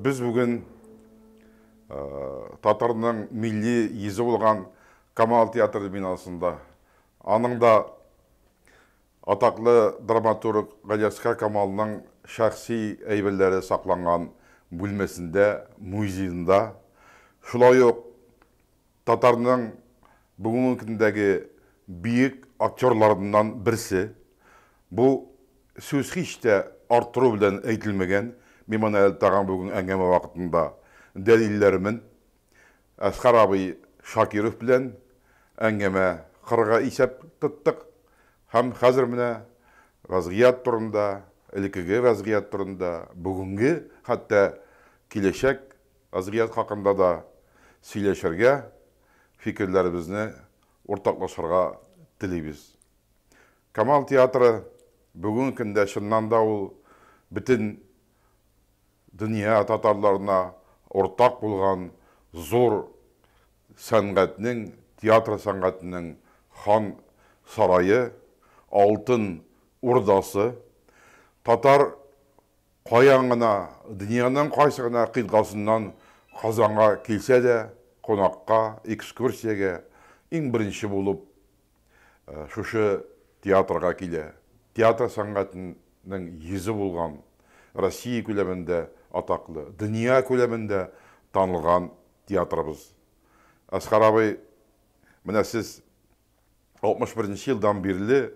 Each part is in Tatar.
Без бүген э, татарның милли йөзе булган Камал театры бинасында. Аның да Атаклы драматург Галиәсгар Камалның шәхси әйберләре сакланган бүлмәсендә, музеенда, шулай ук татарның бүгенге көндәге бөек актерларыннан берсе, бу сүз һич тә арттыру белән әйтелмәгән, мин моны әле тагын бүген әңгәмә вакытында дәлилләрмен, Әскар абый Шакиров белән әңгәмә кырга исәп тоттык һәм хәзер менә вәзгыять турында, элекеге вәзгыять турында, бүгенге, хәтта киләчәк вәзгыять хакында да сөйләшергә, фикерләребезне уртаклашырга телибез. Камал театры бүгенге көндә чыннан да ул бөтен Дөнья татарларына уртак булган зур сәнгатьнең, театр сәнгатенең Хан сарае, Алтын Урдасы, татар каян гына, дөньяның кайсы гына кыйтгасыннан Казанга килсә дә, кунакка, экскурсиягә иң беренче булып, шушы театрга килә. Театр сәнгатенең йөзе булган, Россия күләмендә атаклы, дөнья күләмендә танылган театрыбыз. Әсхар абый, менә сез 61 нче елдан бирле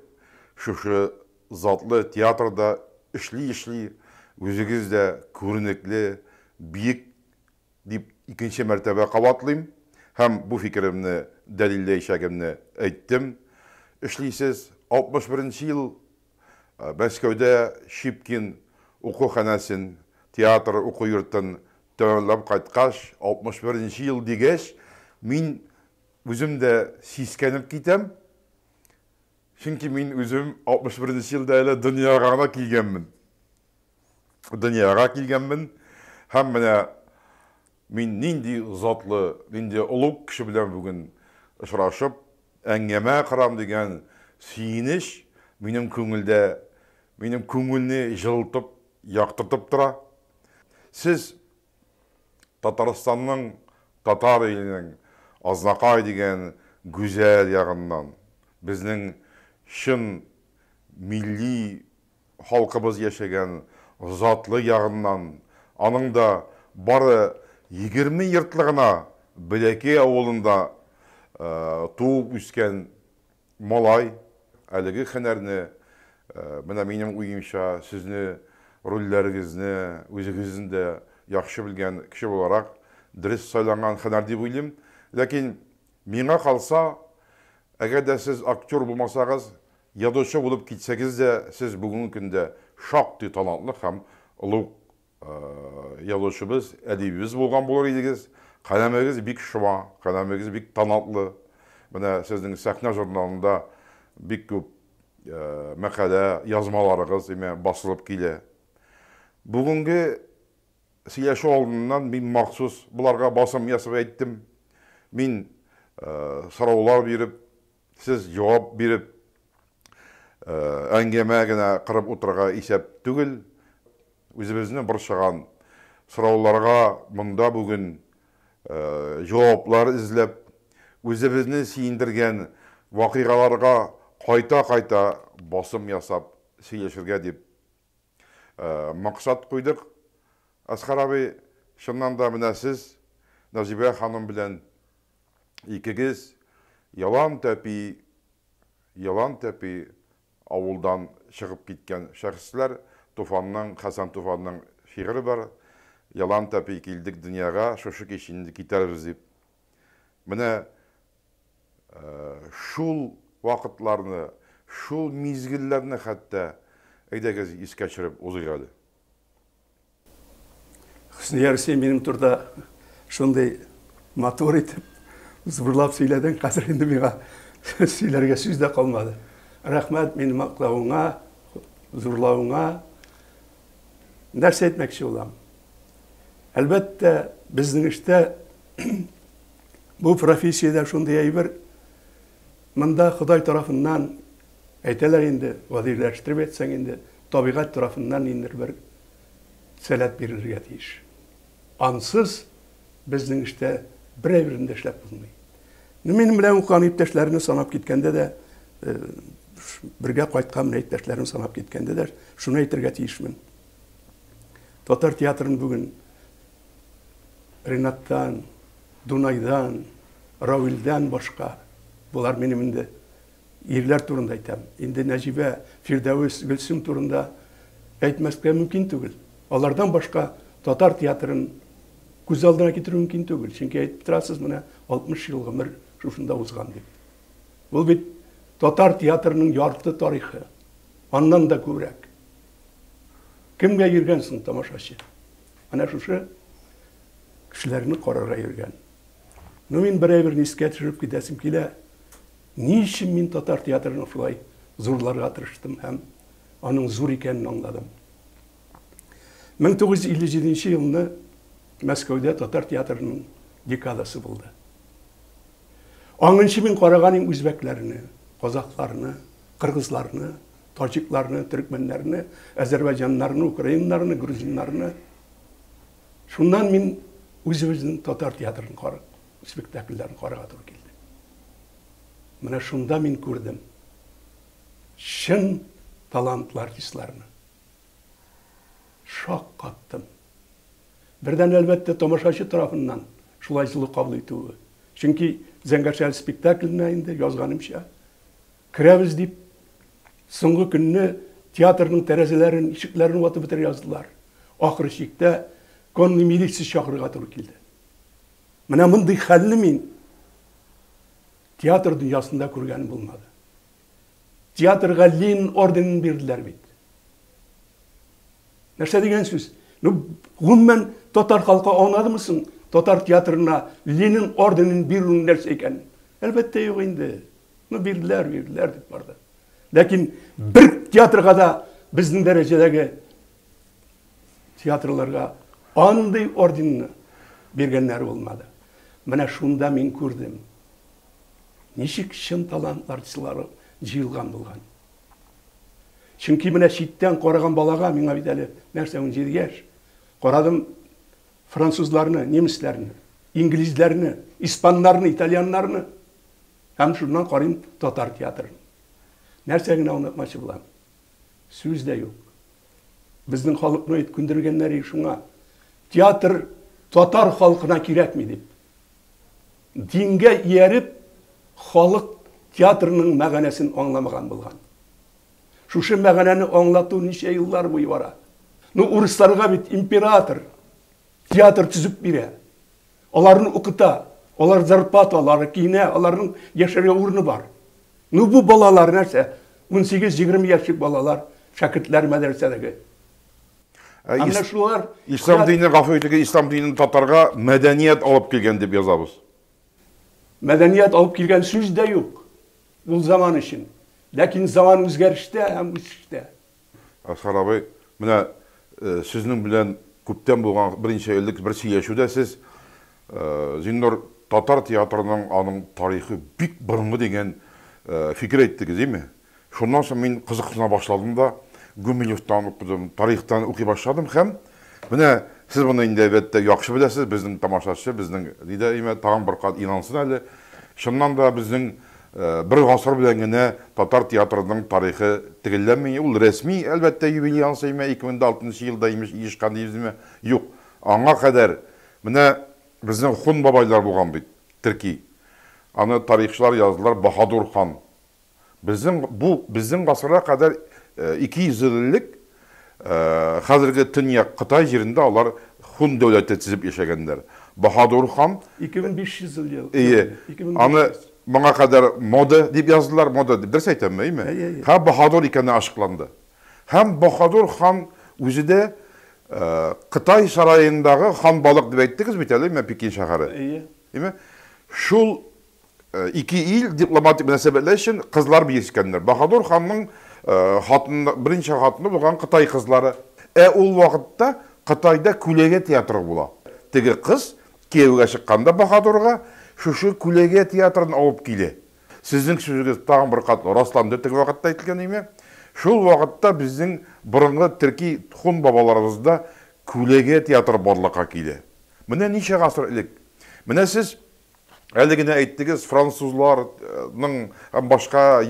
шушы затлы театрда эшли-эшли, үзегез дә күренекле, биек Дип икенче мәртәбә кабатлыйм һәм бу фикеремне дәлилләячәгемне әйттем. Эшлисез. 61 нче ел Мәскәүдә Щипкин уку ханәсен, театр уку йортын тәмамлап кайткач, 61 нче ел дигәч, мин үзем дә сискәнеп китәм, чөнки мин үзем 61 нче елда әле дөньяга гына килгәнмен. дөньяга килгәнмен һәм менә мин нинди затлы, нинди олуг кеше белән бүген очрашып, әңгәмә корам дигән сөенеч минем күңелдә, минем күңелне җылытып, яктыртып тора. Сез Татарстанның, татар иленең Азнакай дигән гүзәл ягыннан, безнең чын милли Халкыбыз яшәгән затлы ягыннан, аның да бары егерме йортлы гына Бәләкәй авылында туып-үскән малай әлеге һөнәрне, менә минем уемча, сезне рольләрегезне үзегезнең дә яхшы белгән кеше буларак, дөрес сайланган һөнәр дип уйлыйм. Ләкин миңа калса, әгәр дә сез актер булмасагыз, Язучы булып китсәгез дә, сез бүгенге көндә шактый талантлы һәм олуг язучыбыз, әдибебез булган булыр идегез. Каләмегез бик шома, каләмегез бик талантлы. Менә сезнең сәхнә журналында бик күп мәкалә, язмаларыгыз имә басылып килә. Бүгенге сөйләшү алдыннан мин махсус боларга басым ясап әйттем. Мин сораулар биреп, Сез җавап биреп, әңгәмә генә корып утырырга исәп түгел. Үзебезне борчыган сорауларга монда бүген җаваплар эзләп, үзебезне сөендергән вакыйгаларга кайта-кайта басым ясап сөйләшергә дип Максат куйдык. Әсхар абый, чыннан да менә сез Назибә ханым белән икегез Ялан тәпи, Ялан тәпи авылдан чыгып киткән шәхесләр. Туфанның, Хәсән Туфанның шигыре бар, Ялан тәпи килдек дөньяга, шушы кич инде китәрбез дип. Менә шул вакытларны, шул мизгелләрне хәтта әйдәгез искә төшереп узыйк әле. Хөснияров, син минем турда шундый матур итеп, зурлап сөйләдең, хәзер инде миңа сөйләргә сүз дә калмады. Рәхмәт мине мактавыңа, зурлавыңа. нәрсә әйтмәкче булам? Әлбәттә, безнең эштә бу профессиядә шундый әйбер, монда Ходай тарафыннан әйтәләр инде, гадиләштереп әйтсәң инде, табигать тарафыннан ниндидер бер сәләт бирелергә тиеш. Ансыз безнең эштә берәй берен дә эшләп булмый. Ну, минем белән укыган иптәшләрне санап киткәндә дә, э, бергә кайткан менә иптәшләрен санап киткәндә дә шуны әйтергә тиешмен. Татар театрын бүген Ренаттан, Дунайдан, Равилдән башка булар минем инде Ирләр турында әйтәм. Инде Нәҗибә, Фирдәвес, Гөлсем турында әйтмәскә мөмкин түгел. Алардан башка татар театрын күз алдына китерү мөмкин түгел. Чөнки әйтеп торасыз, менә 60 ел гомер шушында узган дип. Ул бит татар театрының ярты тарихы. Аннан да күбрәк. Кемгә йөргән соң тамашачы? Менә шушы кешеләрне карарга йөргән. Ну, мин бер әйберне искә төшереп китәсем килә. Ни өчен мин татар театрын шулай зурларга тырыштым һәм аның зур икәнен аңладым. 1957 елны Мәскәүдә татар театрының декадасы булды. Аңынчы мин караган иң үзбәкләрне, казахларны, кыргызларны, таҗикларны, төркмәннәрне, әзербайҗаннарны, украиннарны, грузиннарны. Шуннан мин үзебезнең татар театрын Спектакльләрен карарга туры килде. Менә шунда мин күрдем чын талантлы артистларны. Шаккаттым. Бердән, әлбәттә, тамашачы тарафыннан шулай җылы кабул итүе. Чөнки Зәңгәршәһәр спектакленә инде язганымча, керәбез дип, соңгы көнне театрның тәрәзәләрен, ишекләрен ватып бетерә яздылар. Ахыр чиктә конный милиция чакырырга туры килде. Менә мондый хәлне мин театр дөньясында күргән булмады. Театрга Лин орденын бирделәр бит. Нәрсә дигән сүз? Ну, гомумән татар халкы анадымы соң татар театрына Ленин орденын бирүнең нәрсә икәнен? Әлбәттә юк инде. Ну, бирделәр, бирделәр дип барды. Ләкин бер театрга да безнең дәрәҗәдәге Театрларга андый орденны биргәннәр булмады. Менә шунда мин күрдем. Ничек чын талант артистлары җыелган булган. Чөнки менә читтән караган балага, миңа бит әле нәрсә 17 яшь, карадым французларны, немецләрне, инглизләрне, испаннарны, итальяннарны. Һәм шуннан карыйм татар театрын. Нәрсә генә онытмачы булам. Сүз дә юк. Безнең халыкны ит күндергәннәр и шуңа. Театр татар халкына кирәкми дип. Дингә ияреп, халык театрның мәгәнәсен аңламаган булган. Шушы мәгәнәне аңлату ничә еллар буе бара. Ну, урысларга бит император театр төзеп бирә. Аларны укыта, алар зарплата ала, алар киенә, аларның яшәргә урыны бар. Ну бу балалар нәрсә? Унсигез, егерме яшьлек балалар, шәкертләр мәдрәсәдәге. Ә менә шулар Ислам дине, гафу итегез, Ислам динен татарга мәдәният алып килгән дип язабыз. Мәдәният алып килгән сүз дә юк. Ул заман өчен. Ләкин заман үзгәрештә һәм үсештә. Әсхар абый, менә сезнең белән күптән булган берничә элек бер сөйләшүдә сез Зиннур татар театрының аның тарихы бик борынгы дигән фикер әйттегез, дими? Шуннан соң мин кызыксына башладым да Гумилевтан укыдым, тарихтан укый башладым һәм Менә сез моны инде, әлбәттә, яхшы беләсез, безнең тамашачы, безнең Лида Имә тагын бер кат инансын әле. Чыннан да безнең бер гасыр белән генә татар театрының тарихы тегелләнми. Ул рәсми, әлбәттә, юбилей ансы имә, 2006 нчы елда имеш иешкан дибез имә. Юк, аңа кадәр менә безнең хун бабайлар булган бит, терки. Аны тарихчылар яздылар, Баһадур хан. Безнең бу безнең гасырга кадәр 200 ел элек хәзерге төньяк Кытай җирендә алар хун дәүләте төзеп яшәгәннәр. Баһадур хан 2500 ел ел Әйе. Аны моңа кадәр Моды дип яздылар, Моды дип. Дөрес әйтәмме, әйеме? Әйе, әйе. Һәм Баһадур икәне ачыкланды. Һәм Баһадур хан үзе дә Кытай сараендагы хан балык дип әйттегез бит әле, менә Пекин шәһәре. Әйе. Әйеме? Шул Ике ил дипломатик мөнәсәбәтләр өчен кызлар бирешкәннәр. Баһадур ханның хатыны, беренче хатыны булган Кытай кызлары. Ә ул вакытта Кытайда күләгә театры була. Теге кыз кияүгә чыкканда баһадурга шушы күләгә театрын алып килә. Сезнең сүзегез тагын бер кат расланды теге вакытта әйтелгәнеңә. Шул вакытта безнең борынгы төрки хун бабаларыбызда күләгә театры барлыкка килә. Менә ничә гасыр элек. Менә сез Әле генә әйттегез, французлар, ның һәм башка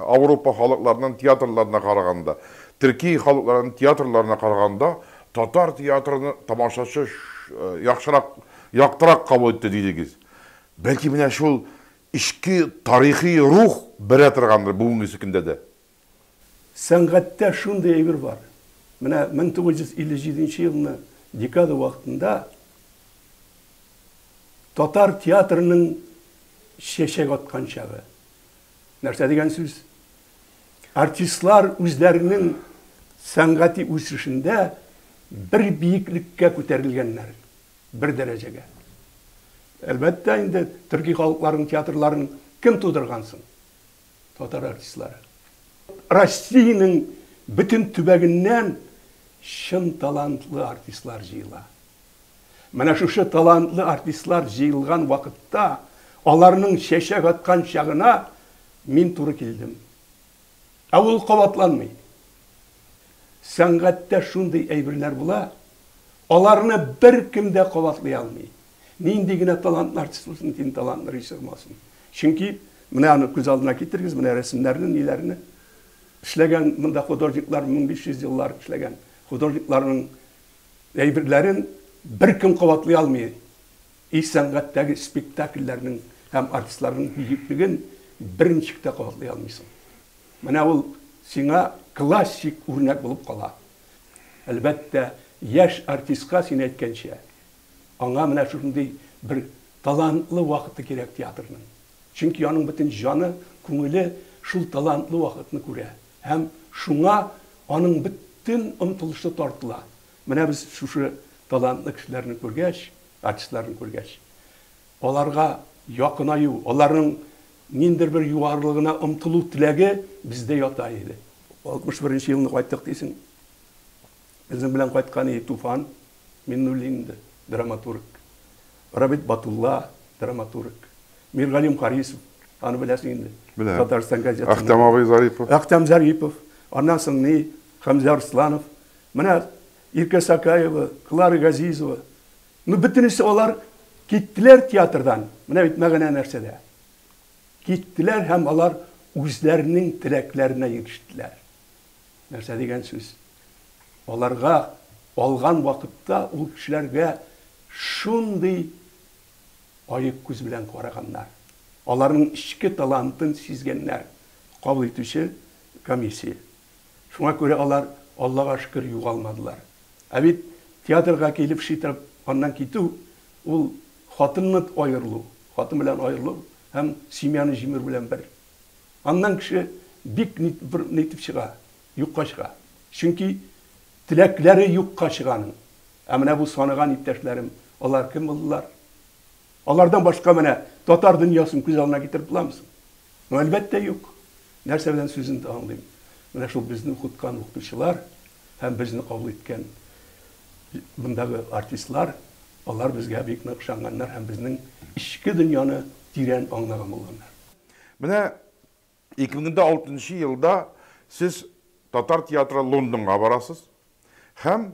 Ауропа халыкларының театрларына караганда, төрки халыкларының театрларына караганда, татар театрын тамашачы яхшырак, яктырак кабул итте дидегез. Бәлки менә шул эчке тарихи рух бәрә торгандыр бүгенгесе көндә дә? Сәнгатьтә шундый әйбер бар. Менә 1957 елны декада вакытында татар театрының чәчәк аткан чагы. Нәрсә дигән сүз? Артистлар үзләренең сәнгати үсешендә бер биеклеккә күтәрелгәннәр, бер дәрәҗәгә. Әлбәттә инде, төрки халыкларның театрларын кем тудырган соң? татар артистлары. Россиянең бөтен төбәгеннән чын талантлы артистлар җыела. Менә шушы талантлы артистлар җыелган вакытта, аларның чәчәк аткан чагына мин туры килдем. Ә ул кабатланмый. Сәнгатьтә шундый әйберләр була, Аларны беркем дә кабатлый алмый. Нинди генә талантлы артист булсын, дин талантлы режиссер булмасын. Чөнки менә аны күз алдына китерегез, менә рәсемнәрне, ниләрне эшләгән монда художниклар 1500 еллар эшләгән художникларның әйберләрен беркем кабатлый алмый. И сәнгатьтәге спектакльләрнең һәм артистларның бөеклеген берничек тә кабатлый алмыйсың. Менә ул сиңа классик үрнәк булып кала. Әлбәттә, яшь артистка, син әйткәнчә, аңа менә шушындый бер талантлы вакыты кирәк театрның. Чөнки аның бөтен җаны, күңеле шул талантлы вакытны күрә һәм шуңа аның бөтен омтылышы тартыла. Менә без шушы талантлы кешеләрне күргәч, артистларны күргәч, аларга якынаю, аларның ниндидер бер югарылыгына омтылу теләге бездә ята иде. Алтмыш беренче елны кайттык дисең. Безнең белән кайткан и Туфан Миннуллин иде, драматург. Рабит Батулла, драматург. Миргалим Харисов, аны беләсең инде. Беләм. Татарстан газетасы. Әхтәм абый Зарипов. Әхтәм Зарипов. Аннан соң ни? Хәмзә Арсланов. Менә Иркә Сакаева, Клара Газизова. Ну, бөтенесе алар киттеләр театрдан. Менә бит мәгънә нәрсәдә. Киттеләр һәм алар үзләренең теләкләренә ирештеләр. Нәрсә дигән сүз? Аларга алган вакытта ул кешеләргә шундый аек күз белән караганнар. Аларның эчке талантын сизгәннәр кабул итүче комиссия. Шуңа күрә алар, Аллага шөкер, югалмадылар. Ә бит театрга килеп шитырып, аннан китү, ул хатыннан аерылу, хатын белән аерылу һәм семьяны җимерү белән бер. Аннан кеше бик бер ни итеп чыга, юкка чыга. Чөнки теләкләре юкка чыга аның. Ә менә бу санаган иптәшләрем, алар кем булдылар? Алардан башка менә татар дөньясын күз алдына китереп буламы соң? Ну, әлбәттә, юк. Нәрсә белән сүземне аңлыйм? Менә шул безне укыткан укытучылар һәм безне кабул иткән мондагы артистлар, алар безгә бик нык ышанганнар һәм безнең эчке дөньяны тирән аңлаган булганнар. Менә 2006 елда сез татар театры Лондонга барасыз һәм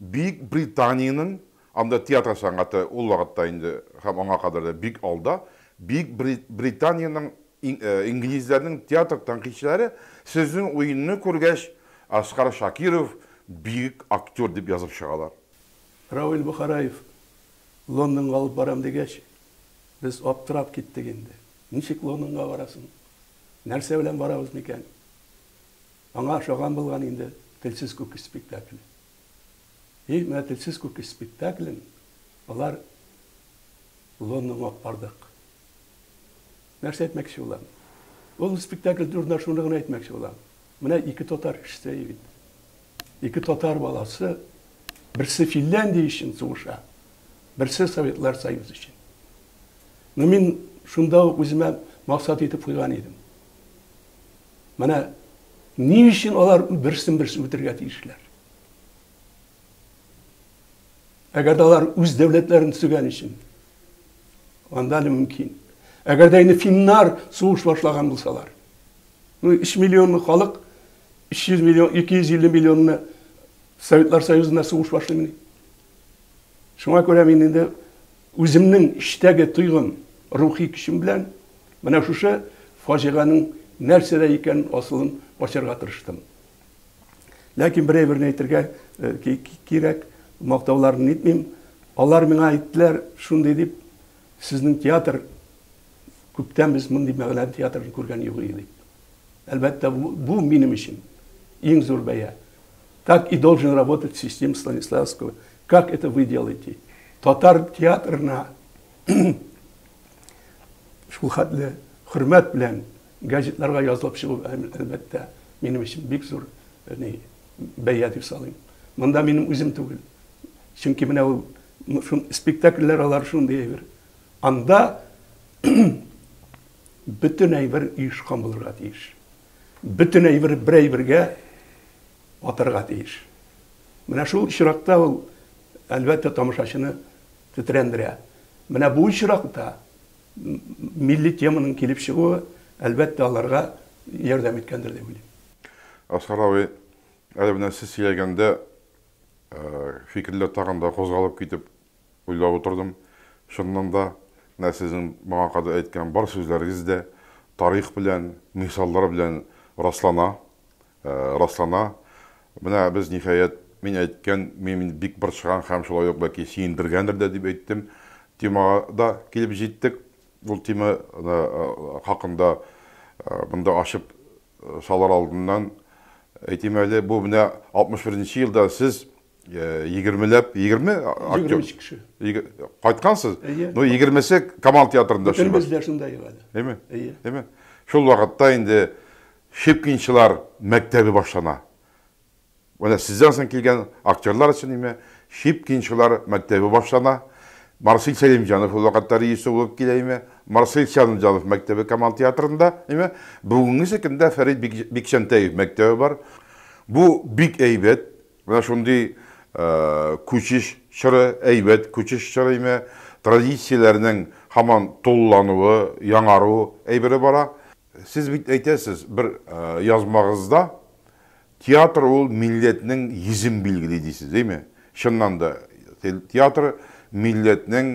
Бөек Британиянең, анда театр сәнгате ул вакытта инде һәм аңа кадәр дә бик алда, Бөек Британиянең инглизләрнең театр тәнкыйтьчеләре сезнең уенны күргәч, Асгар Шакиров бөек актер дип язып чыгалар. Равил Бохараев Лондонга алып барам дигәч, Без аптырап киттек инде. Ничек Лондонга барасын? Нәрсә белән барабыз микән? Аңа ошаган булган инде Телсез күк спектакле. И, менә Телсез күк спектаклен алар Лондонга алып бардык. Нәрсә әйтмәкче булам? Ул спектакль турында шуны гына әйтмәкче булам. Менә ике татар кешесе бит. Ике татар баласы берсе Финляндия өчен сугыша, берсе Советлар Союзы өчен. Но мин шунда ук үземә максат итеп куйган идем. Менә ни өчен алар берсен берсе үтергә тиешләр? Әгәр дә алар үз дәүләтләрен төзегән өчен, анда әле мөмкин. Әгәр дә инде финнар сугыш башлаган булсалар, ну, 3 миллионлы халык 300 миллион, 250 миллионны Советлар Союзында сугыш башлыймыни? Шуңа күрә мин инде үземнең эчтәге тойгым, рухи көчем белән менә шушы фаҗиганың нәрсәдә икән асылын ачарга тырыштым. Ләкин бер әйберне әйтергә кирәк, мактауларын нитмим. Алар миңа әйттеләр, шундый дип, сезнең театр күптән без мондый мәгънәле театрны күргән юк иде дип. Әлбәттә, бу минем өчен иң зур бәя. Так и должен работать систем Станиславского. Как это вы делаете? Татар театрына шул хәтле хөрмәт белән Газетларга язылып чыгу, әлбәттә, минем өчен бик зур бәя дип саныйм. Монда минем үзем түгел. Чөнки менә ул спектакльләр алар шундый әйбер. Анда бөтен әйбер оешкан булырга тиеш. Бөтен әйбер бер әйбергә атарга тиеш. Менә шул очракта ул, әлбәттә, тамашачыны тетрәндерә. Менә бу очракта милли теманың килеп чыгуы, әлбәттә, аларга ярдәм иткәндер дип уйлыйм. Әсгар абый, әле менә сез сөйләгәндә, фикерләр тагын да кузгалып китеп, уйлап утырдым. Чыннан да, менә сезнең моңа кадәр әйткән бар сүзләрегез дә тарих белән, мисаллар белән раслана. раслана. Менә без, ниһаять, мин әйткән, мин бик борчыган һәм шулай ук бәлки сөендергәндер дә дип әйттем, темага да килеп җиттек. Ул тема хакында монда ачып салыр алдыннан әйтим әле, бу менә 61 нче елда сез егермеләп, егерме актер? Егерме кеше. Кайткансыз? Әйе. Ну, егермесе Камал театрында эшли. Бөтенебез дә шунда ел әле. Әйме? Әйе. Әйме? Шул вакытта инде Щепкинчылар мәктәбе башлана. Менә сездән соң килгән актерлар өчен име Щепкинчылар мәктәбе башлана. Марсель Сәлимҗанов ул вакытта режиссер булып килә име Марсель Сәлмҗанов мәктәбе Камал театрында име Бүгенге көндә Фәрит Бик Бикчәнтәев мәктәбе бар. Бу бик әйбәт. Менә шундый күчеш чоры, әйбәт күчеш чоры име Традицияләрнең һаман тулылануы, яңару әйбере бара. Сез бит әйтәсез бер язмагызда, Театр ул милләтнең йөзен билгели дисез, дими? Чыннан да, театр милләтнең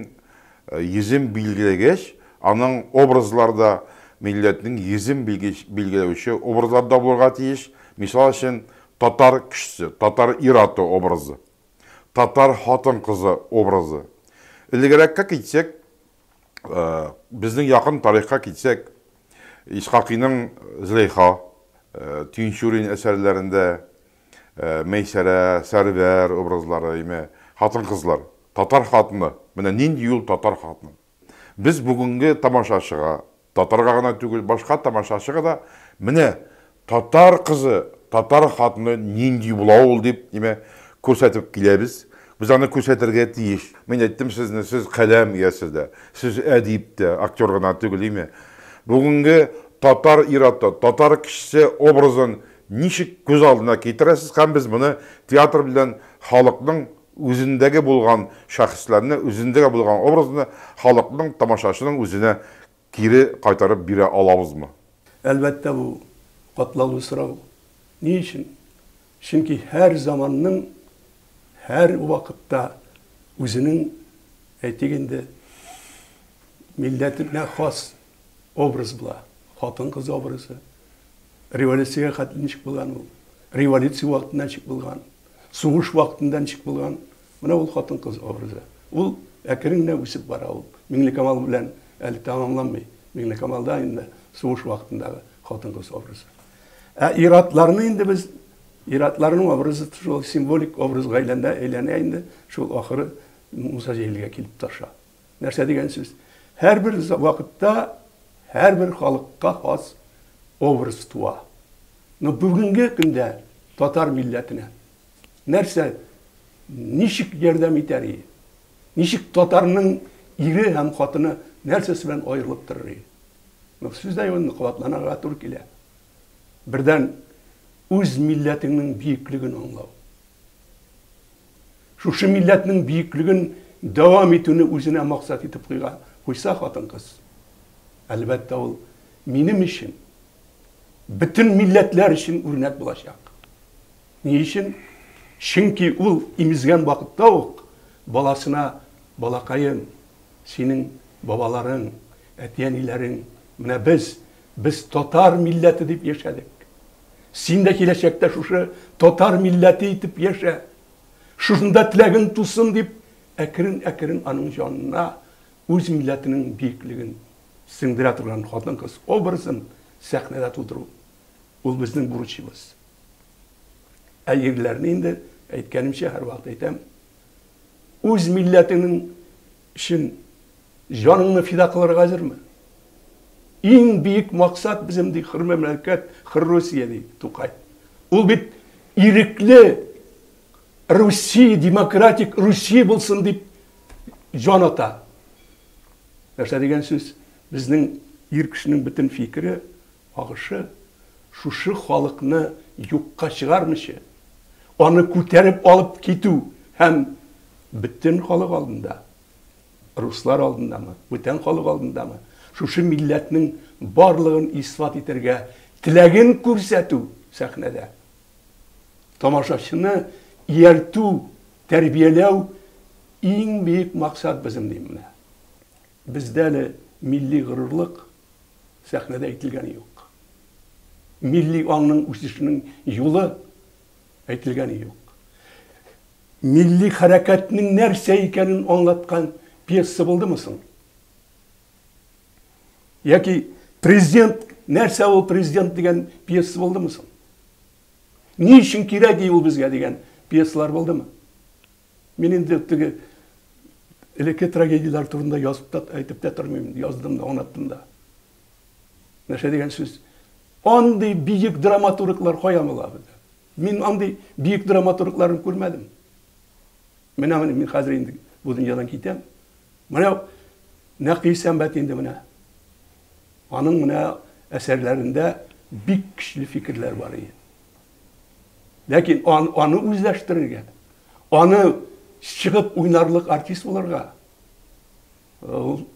йөзен билгеләгәч, аның образлары да милләтнең йөзен билгеләүче образлар да булырга тиеш. Мисал өчен, татар кешесе, татар ир-аты образы, татар хатын-кызы образы. Элегрәккә китсәк, Безнең якын тарихка китсәк, Исхакыйның Зөләйха, Тинчурин әсәрләрендә Мәйсәрә, Сәрвәр образлары, яме, хатын-кызлар. Татар хатыны, менә нинди ул татар хатыны. Без бүгенге тамашачыга Татарга гына түгел, башка тамашачыга да, менә татар кызы, татар хатыны нинди була ул дип, димәк, күрсәтеп киләбез. Без аны күрсәтергә тиеш. Мин әйттем сезне, сез каләм иясе дә, сез әдип тә, актер гына түгел, име? Бүгенге татар ир-аты, татар кешесе образын ничек күз алдына китерәсез һәм без моны театр белән халыкның үзендәге булган шәхесләрне, үзендәге булган образны халыкның, тамашачының үзенә кире кайтарып бирә алабызмы? Әлбәттә, бу, катлаулы сорау. Ни өчен? Чөнки һәр заманның, һәр вакытта үзенең, әйтик инде, милләтенә хас образ була. Хатын-кыз образы. Революциягә хәтле ничек булган ул? Революция вакытында ничек булган? Сугыш вакытында ничек булган? Менә ул хатын-кыз образы. Ул әкрен генә үсеп бара. Ул Миңлекамал белән әле тәмамланмый. Миңлекамалда инде сугыш вакытындагы хатын-кыз образы. Ә ир-атларны инде без, ир-атларның образы шул символик образга әйләнә, әйләнә инде, шул ахыры Муса Җәлилгә килеп таша. Нәрсә дигән сүз? Һәрбер вакытта һәрбер халыкка хас образ туа. Но бүгенге көндә татар милләтенә нәрсә, ничек ярдәм итәр и? Ничек татарның ире һәм хатыны нәрсәсе белән аерылып торыр и? Ну, сүз дә юк, кабатланырга туры килә. Бердән, үз милләтеңнең биеклеген аңлау. Шушы милләтнең бөеклеген дәвам итүне үзенә максат итеп куйга, куйса хатын-кыз, әлбәттә, ул минем өчен, бөтен милләтләр өчен үрнәк булачак. Ни өчен? Чөнки ул имезгән вакытта ук баласына, балакаем, синең бабаларың, әти-әниләрең, менә без, без татар милләте дип яшәдек. Син дә киләчәктә шушы татар милләте итеп яшә, шушында теләгең тусын, дип, әкрен-әкрен аның җанына үз милләтенең биеклеген сеңдерә торган хатын-кыз образын сәхнәдә тудыру, ул безнең бурычыбыз. Ә ирләрне инде, әйткәнемчә, һәрвакыт әйтәм, үз милләтеңнең Өчен җаныңны фида кылырга әзерме? Иң биек максат безем ди хөр мәмләкәт, хөр Русия, ди Тукай. Ул бит ирекле Русия, демократик Русия булсын дип җан ата. Нәрсә дигән сүз? Безнең ир кешенең бөтен фикере Агышы, шушы халыкны юкка чыгармыйча, аны күтәреп алып китү һәм бөтен халык алдында, руслар алдындамы, бүтән халык алдындамы, шушы милләтнең барлыгын исбат итәргә теләген күрсәтү сәхнәдә, тамашачыны ияртү, тәрбияләү иң бөек максат безнең, дим менә. Бездә әле милли горурлык сәхнәдә әйтелгәне юк. Милли аңның үсешенең юлы әйтелгәне юк. Милли хәрәкәтнең нәрсә икәнен аңлаткан пьеса булдымы соң? Яки Президент, нәрсә ул президент дигән пьеса булдымы соң? Ни өчен кирәк ул безгә дигән пьесалар булдымы? Мин инде теге элекке трагедияләр турында язып та, әйтеп тә тормыйм, яздым да, аңлаттым да. Нәрсә дигән сүз? Андый биек драматурглар кая була бездә? Мин андый биек драматургларын күрмәдем. Менә менә мин хәзер инде бу дөньядан китәм. Менә Нәкый Сәмбәт инде менә. Аның менә әсәрләрендә бик көчле фикерләр бар иде. Ләкин ан, аны үзләштерергә, аны чыгып уйнарлык артист булырга, ул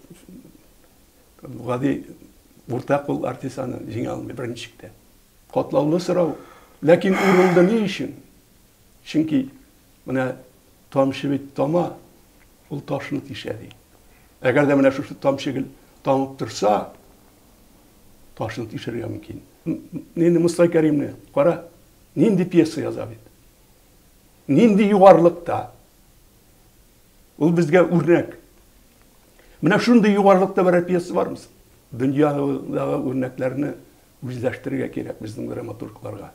гади урта кул артист аны җиңә алмый беренче чиктә. Катлаулы сорау. Ләкин урынды ни өчен? Чөнки менә тамчы бит тама, ул ташны тишә ди. Әгәр дә менә шушы тамчы гел тамып торса, ташын тишерергә мөмкин. Нинди Муса Кәримне кара, нинди пьеса яза бит. Нинди югарлыкта. Ул безгә үрнәк. Менә шундый югарлыкта берәр пьеса бармы? Дөньядагы үрнәкләрне үзләштерергә кирәк безнең драматургларга.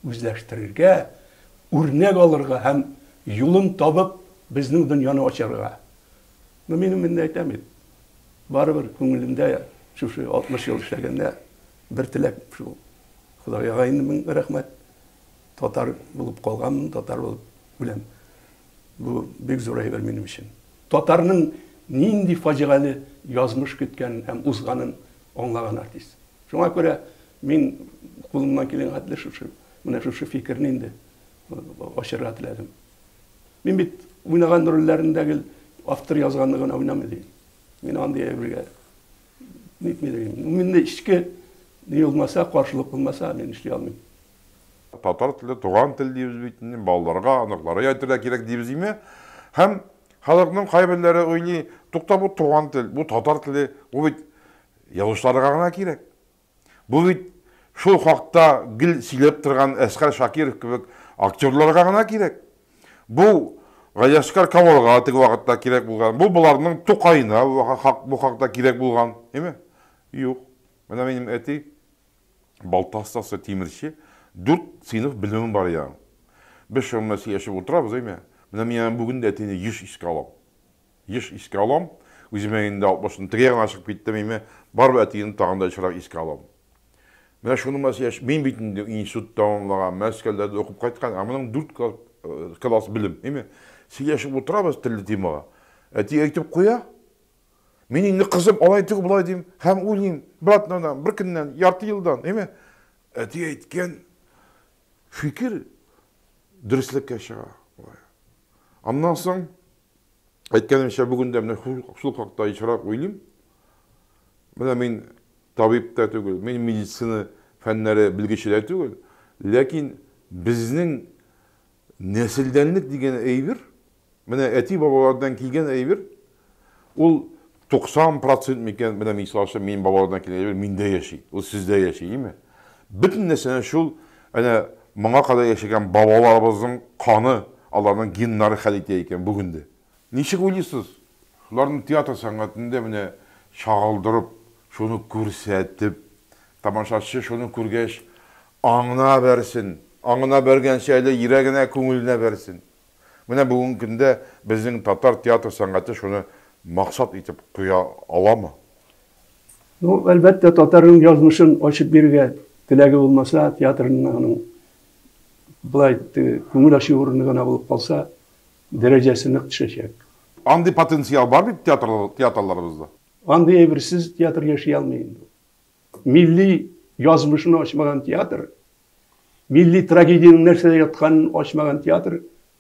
Үзләштерергә, үрнәк алырга һәм юлын табып безнең дөньяны ачарга. Ну мин гомумән әйтәм бит. Барыбер күңелемдә шушы 60 ел эшләгәндә бер теләк шул. Худайга инде мең рәхмәт. Татар булып калганмын, татар булып үләм. Бу бик зур әйбер минем өчен. Татарның нинди фаҗигале язмыш көткәнен һәм узганын аңлаган артист. Шуңа күрә мин кулымнан килгән хәтле шушы, менә шушы фикерне инде ачарга теләдем. Мин бит уйнаган рольләрендә гел автор язганны гына уйнамый дим. Мин андый әйбергә нитми дим. Миндә эчке ни булмаса, каршылык булмаса, мин эшли алмыйм. Татар теле, туган тел дибез бит, балаларга, оныкларга әйтергә кирәк дибез име? Һәм халыкның кайберләре уйлый, тукта бу туган тел, бу татар теле, бу бит язучыларга гына кирәк. Бу бит шул хакта гел сөйләп торган Әсгар Шакиров кебек актерларга гына кирәк. Бу Галиәсгар Камалга теге вакытта кирәк булган, бу боларның Тукаена бу хакта кирәк булган, әйме? Юк. Менә минем әти балта остасы, тимерче, дүрт сыйныф белемем бар иде аның. Без шуның белән сөйләшеп утырабыз, әйме? Менә мин бүген дә әтине еш искә алам. Еш искә алам. Үземә инде 60 ны тегә генә чыгып киттем име, барыбер әтиемне тагын да ешрак искә алам. Менә шуны мас яшь, мин бит инде институт тәмамлаган, Мәскәүдә дә укып кайткан, ә моның дүрт класс, класс белем, име. Сөйләшеп утырабыз телле темага. Әти әйтеп куя. Мин инде кызым алай түгел, болай дим һәм уйлыйм, братнадан, бер көннән, ярты елдан, име. Әти әйткән фикер дөреслеккә чыга. Аннан соң Әйткәнемчә, бүген дә менә шул хакта ешрак уйлыйм. Менә мин табиб та түгел, мин медицина фәннәре белгече дә түгел, ләкин безнең нәселдәнлек дигән әйбер, менә әти-бабалардан килгән әйбер, ул 90 процент микән, менә мисал өчен минем балалардан килгән әйбер миндә яши, ул сездә яши, име? Бөтен нәрсәне шул әнә моңа кадәр яшәгән бабаларыбызның каны, аларның геннары хәл итә икән бүген дә. Ничек уйлыйсыз? Шуларны театр сәнгатендә менә чагылдырып, шуны күрсәтеп, тамашачы шуны күргәч аңына бәрсен, аңына бәргәнче әле йөрәгенә, күңеленә бәрсен. Менә бүгенге көндә безнең татар театр сәнгате шуны максат итеп куя аламы? Ну, әлбәттә, татарның язмышын ачып бирергә теләге булмаса, театрында аның болай теге күңел ачу урыны гына булып калса, дәрәҗәсе нык төшәчәк. Андый потенциал бар бит театрлар, театрларыбызда. Андый әйберсез театр яши алмый инде ул. Милли язмышын ачмаган театр, милли трагедиянең нәрсәдә ятканын ачмаган театр,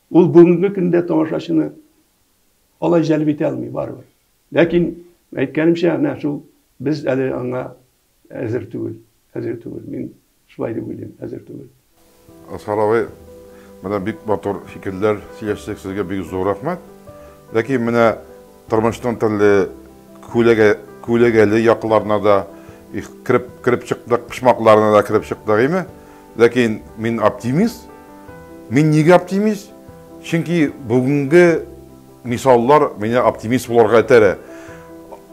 ул бүгенге көндә тамашачыны алай җәлеп итә алмый барыбер. Ләкин, әйткәнемчә, әнә шул без әле аңа әзер түгел, әзер түгел. Мин Шулай дип уйлыйм, әзер түгел. Асхар абый, менә бик матур фикерләр сөйләштек, сезгә бик зур рәхмәт. Ләкин менә тормышның төрле күләгә, күләгәле якларына да кереп, кереп чыктык, почмакларына да кереп чыктык, име? Ләкин мин оптимист. Мин нигә оптимист? Чөнки бүгенге Мисаллар мине оптимист булырга этәрә.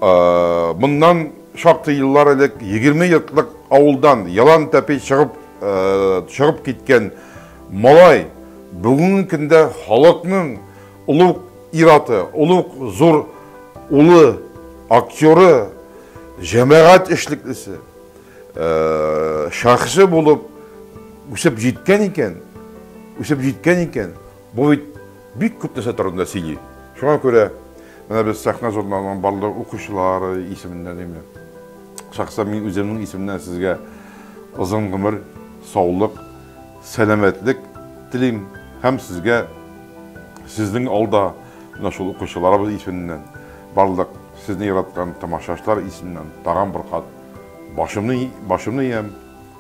Моннан шактый еллар элек егерме йортлык авылдан ялан тәпи чыгып чыгып киткән малай бүгенге көндә халыкның олуг ир-аты, олуг зур улы, актеры, җәмәгать эшлеклесе, шәхесе булып үсеп җиткән икән, үсеп җиткән икән. Бу бит бик күп нәрсә турында сөйли. Шуңа күрә менә без Сәхнә журналының барлык укучылары исеменнән инде шәхсән мин үземнең исемнән сезгә озын гомер, саулык, сәламәтлек телим һәм сезгә сезнең алда менә шул укучыларыбыз исеменнән барлык сезне яраткан тамашачылар исеменнән тагын бер кат башымны башымны иям.